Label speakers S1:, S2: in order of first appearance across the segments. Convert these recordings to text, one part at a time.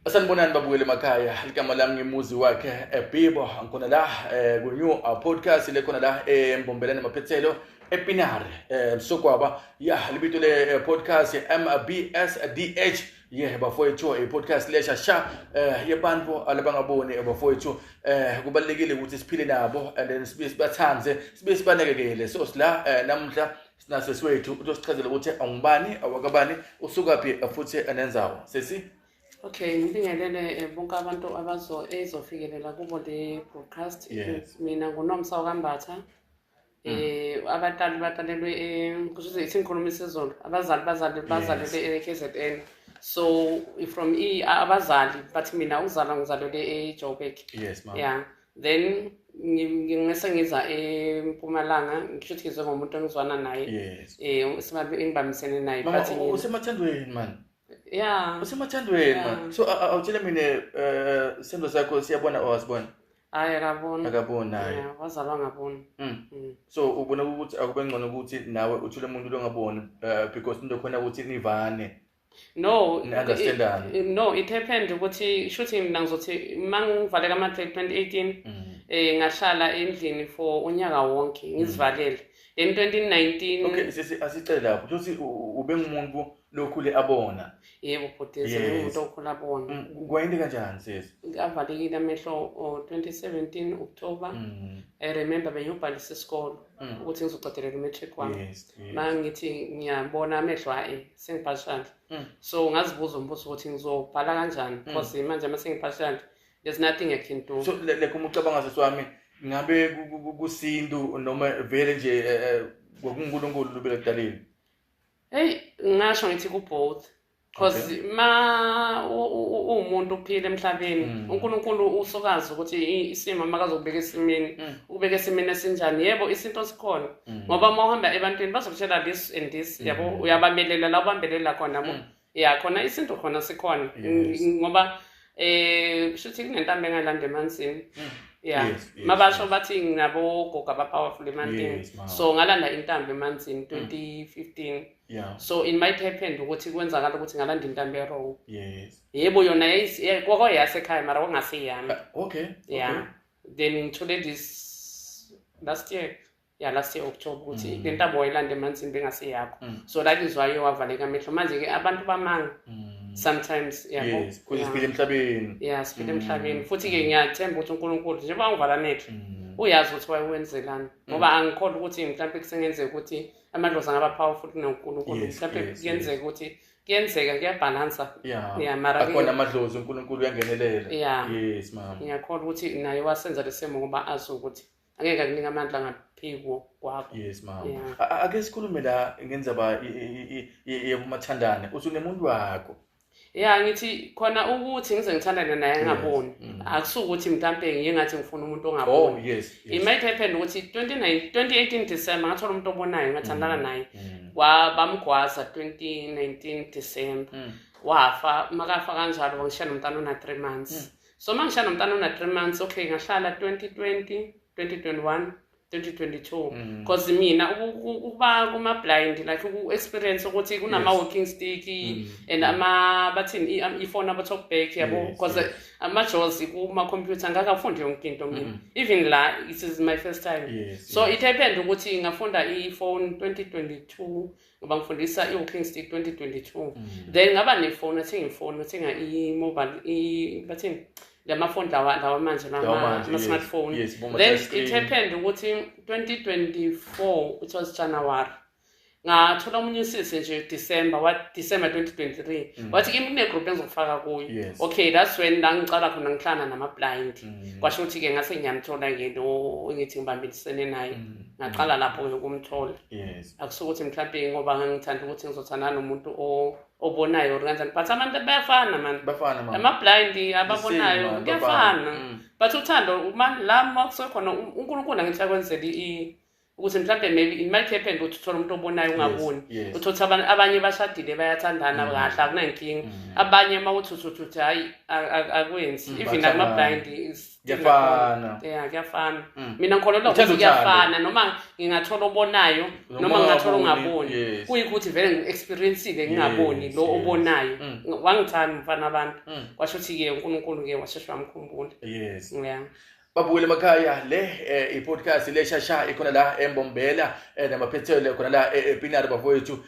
S1: Sanibonani babukeli emakhaya ligama lami ngimuzi wakhe ebibo eh, ngikhona la eh, ku-new uh, podcast le khona la embombelane eh, maphethelo epinare um sokwaba ya libito le podcast mbsdh ye bafowethu i-podcast lesha sha um yebantu alabangaboni bafowethu um kubalulekile ukuthi siphile nabo and then sibe sibathande sibe sibanekekele so sila um namuhla sinasesi wethu utosichazela ukuthi awungubani awakabani usukaphi futhi enenzawo sesi okay
S2: ngibingelele eh, bonke abantu abazo ezofikelela kubo le broadcast yes. mina ngunomsa wakambatha mm. eh abatali batalelwe eh, kusho ukuthi inkhulumo isizolo abazali bazali bazalele yes. eKZN so from e abazali but mina ukuzalwa ngizalelwe eJoburg yes mama yeah
S1: then
S2: ngingase ngiza empumalanga ngisho ukuthi ngizwe ngomuntu engizwana naye um
S1: engibambisene
S2: naye usemathandweni
S1: mani ya
S2: usemathandweni
S1: mani so awutshele mina um isithando sakho siyabona or asibona hayi akaboni
S2: akaboni naye
S1: wazalwa ngaboni
S2: mm. mm. so
S1: ubona ukuthi akube ngcono ukuthi nawe uthule umuntu longaboni um because into khona ukuthi nivane no
S2: Ni understandana. i-
S1: i- no it happened
S2: ukuthi shuthi mina ngizothi uma ngivaleka amatrade 2018 Mm. eh ngahlala endlini for unyaka wonke ngizivalele then 2019 Okay, sisi asicele
S1: lapho. Futhi u- u- ubengumuntu lokhule abona. yebo bhuti Yes.
S2: sengumuntu okhula bona Mm, Kwayinde kanjani
S1: sisi? avalekile amehlo
S2: o 2017 October Mm. i remember bengiyobhalisa isikolo mm. ukuthi ngizoqedelela umatric wami yes, yes. ma ngithi ngiyabona amehlo ayi sengibhashanda mm. so ngazibuza umbuzo ukuthi ngizobhala kanjani mm. because mm. manje uma sengibhashanda there's nothing i can do so like uma ucabanga sisi
S1: wami ngabe kusintu noma vele nje eh, eh, kwakunkulunkulu lubelakudalile heyi
S2: ngasho ngithi ku-both because okay. ma uwumuntu uphila emhlabeni mm. unkulunkulu usukazi ukuthi isimo makazokubeka esimeni mm. ubeka esimeni esinjani yebo isinto sikhona mm. ngoba uma uhamba ebantwini bazokutshela this and this mm. yabo uyabamelela la ubambelela khona bo mm. ya khona isinto khona sikhona yes. ngoba um eh, shuthi kunentambo engalanda emansini mm. ya yes, yes, mabasho yes. bathi nginabogogo abapowerful emantini yes, so ngalanda intambo emanzini 2015 mm. yeah. so it
S1: might happen
S2: ukuthi kwenzakala ukuthi ngalanda intambo erong yes. yebo
S1: yona
S2: kwakoyasekhaya mara kwangaseyami ah, okay. yeah
S1: okay.
S2: then ngithole this last year ya last year october ukuthi mm. le ntambo wayilanda emanzini bengaseyakho mm. so that is why wavaleka amehlo manje-ke abantu bamanga mm. sometimes yabo yes, yeah. siphile emhlabeni
S1: ya siphile mm. emhlabeni
S2: futhi-ke mm. ngiyathemba ukuthi unkulunkulu njengoba ngivala amehlo mm. uyazi ukuthi wayewenzelani ngoba mm. angikholwa ukuthi mhlawumpe kusengenzeka ukuthi amadlozi angaba powerful kunonkulunkulu Yes, mhlawumbe yes, kuyenzeka ukuthi kuyenzeka kuyabhalansa Yeah. Yeah,
S1: mara ke- akhona amadlozi unkulunkulu uyangenelela Yeah. yes mama ngiyakholwa ukuthi naye
S2: wasenza lesimo ngoba azi ukuthi angeke akunika amandla ngaphiko kwakho yes mama Yeah. A-
S1: a- ake sikhulume la ngenzaba i- i- i- i- yokumathandane usunemuntu wakho ya ngithi
S2: khona ukuthi ngize ngithandane naye angaboni mm. akusuke ukuthi mhlampe ngiye ngathi ngifuna umuntu ongaboni oh, it might
S1: happen ukuthi 2018
S2: december ngathola umuntu obonayo ngathandana mm. naye mm. bamgwaza 2019 december wafa makafa kanjalo wangishiya nomntana ona three months so uma ngishiya nomntana ona three months okay ngahlala 2020 2021 2022 because mm. mina ukuba kuma blind like uku experience ukuthi kunama walking stick mm. and mm. ama bathini i phone aba talk back yabo because yes. ama jaws kuma computer ngaka fundi yonke into mina mm. even la it is my first time yes, so yes. it happened ukuthi ngafunda i phone 2022 ngoba ngifundisa i-walking stick 2022 mm. then ngaba nefoni athenga ifoni athenga i-mobile bathini la mafoni lawa lawa manje lama-smartphone yes, then it happened ukuthi 2024 it was january ngathola omunye usisi nje december wa december 2023 mm. wathi kimi kunegroup engizokufaka kuyo yes. okay that's when la ngiqala khona ngihlana nama-blind mm. kwasho ukuthi-ke ngase ngiyamthola-ke lo engithi ngibambelisene naye mm. ngaqala mm. lapho-ke ukumthola yes. akusho ukuthi mhlawumbe ngoba ngangithanda ukuthi ngizothandana nomuntu obonayo or kanjani but abantu bayafana mani ama-blind ababonayo kuyafana mm. but uthando la ma kusekhona unkulunkulu angithi akwenzeli ukuthi mhlawumbe maybe it might happen ukuthi uthole umuntu obonayo ungaboni uthi uthi
S1: abanye
S2: bashadile bayathandana mm. kahle akunankinga mm. abanye uma uthi uthi uthi hhayi akwenzi even akuma-blind kuyafana
S1: ya kuyafana
S2: mm. mina ngikholelwa ukuthi kuyafana noma ngingathola obonayo noma ngingathola ongaboni kuyikho ukuthi vele ngi-experiencile ngingaboni lo obonayo mm. wangithanda umfana abantu mm. kwasho ukuthi-ke unkulunkulu-ke washeshe wamkhumbula yes ya babuyele emakhaya
S1: le eh, i-podcast le shasha ikhona la embombela eh, namaphethelo khona la epinari eh, bafowethu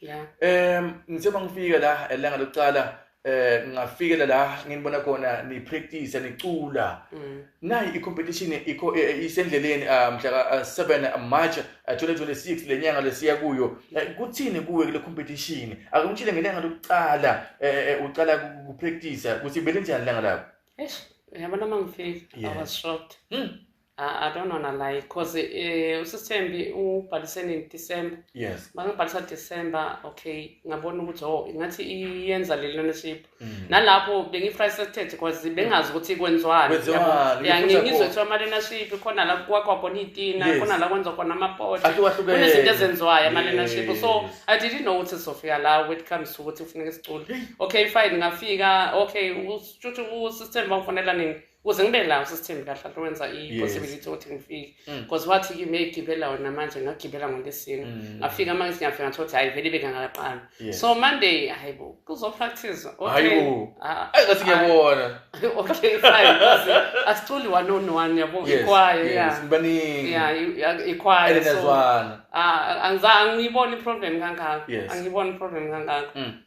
S2: yeah um ngithe bangifike
S1: la elanga lokuqala eh ngingafikela la nginibona khona ni practice nicula mm. nayi i competition ikho e, e, isendleleni ah, mhla 7 ah, March 2026 ah, lenyanga lesiya kuyo eh, kuthini kuwe kule competition akumtshile ngelanga lokuqala eh, eh, uqala ku practice ukuthi bele njani langa lapho eish yabona
S2: mangifika i was shocked hmm. I, don't wanna lie because uh, eh, usisithembi ubhalise nini December yes bangibhalisa
S1: December
S2: okay ngabona ukuthi oh ingathi iyenza le learnership mm. nalapho bengi-frustrated because bengazi ukuthi kwenziwani ya ngingizwe kuthiwa ama-learnership khona la kwakwa khona iyitina khona la kwenza khona amapota kunezinto ezenziwayo ama-learnership so i didn't know ukuthi sizofika la when it comes to ukuthi kufuneka sicule okay fine ngafika okay ushuthi usisithembi bangifonela nini kuze ngibe la usisithembi kahle ahle wenza i-possibility ukuthi ngifike mm. because wathi kimi eyigibela wona manje ngagibela ngolesine mm. ngafika manje ngiyafika ngathi ukuthi hayi vele bengakaqali so monday hayi bo kuzopractice hayibo ah. ayi ngathi
S1: ngiyabona okay fine
S2: asiculi one on one yabo ikwayo ya sibaningi
S1: ya ikwayo
S2: so ah, angizange ngiyibone iproblem kangaka angiyibone iproblem kangaka mm.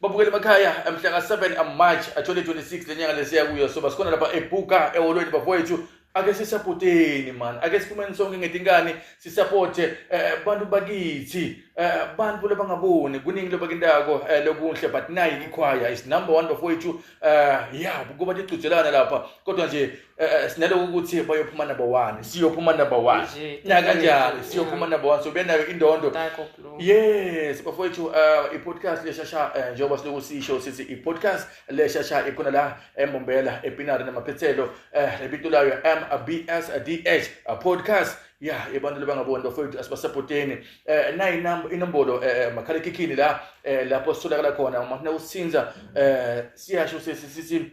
S1: babukeli emakhaya mhla ka-7 march 2026 le nyanga lesiya kuyo soba sikhona lapha ebuka eholweni bafowethu ake sisapoteni mani ake siphumeni sonke ngetinkani sisapote eh, bantu bakithi eh, bantu labangaboni kuningi lobakintako eh, lokunhle but nayi ikhwaya is number one bafowethu eh, ya kuba tigcujelana lapha kodwa nje Eh sinaloku ukuthi bayophuma number 1 siyophuma number 1 Nje, na kanjalo yeah. siyophuma number 1 so benayo indondo Taco Blue. yes bafowethu uh, i-podcast leshasha eh, njengoba siloku sisho sithi i-podcast leshasha ikhona la embombela epinari namaphethelo eh, lebito layo mbsdh uh, podcast ya abantu labangaboni bafowethu asibasapoteni eh, nayi nam- inombolo eh, makhalekhikhini la eh, lapho sitholakala khona uma funa usinza eh, siyasho sesi sithi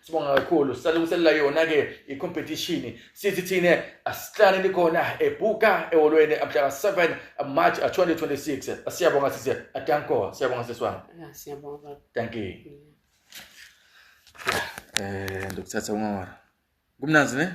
S1: sibonga kakhulu sisalungiselela yona-ke i-competition sithi thina asihlaneni khona ebhuka ehholweni mhlaka 7 march 2026 siyabonga sise adanko siyabonga siswami siyabonga
S2: thank
S1: you um ndokuthatha ungawara kumnanzi ne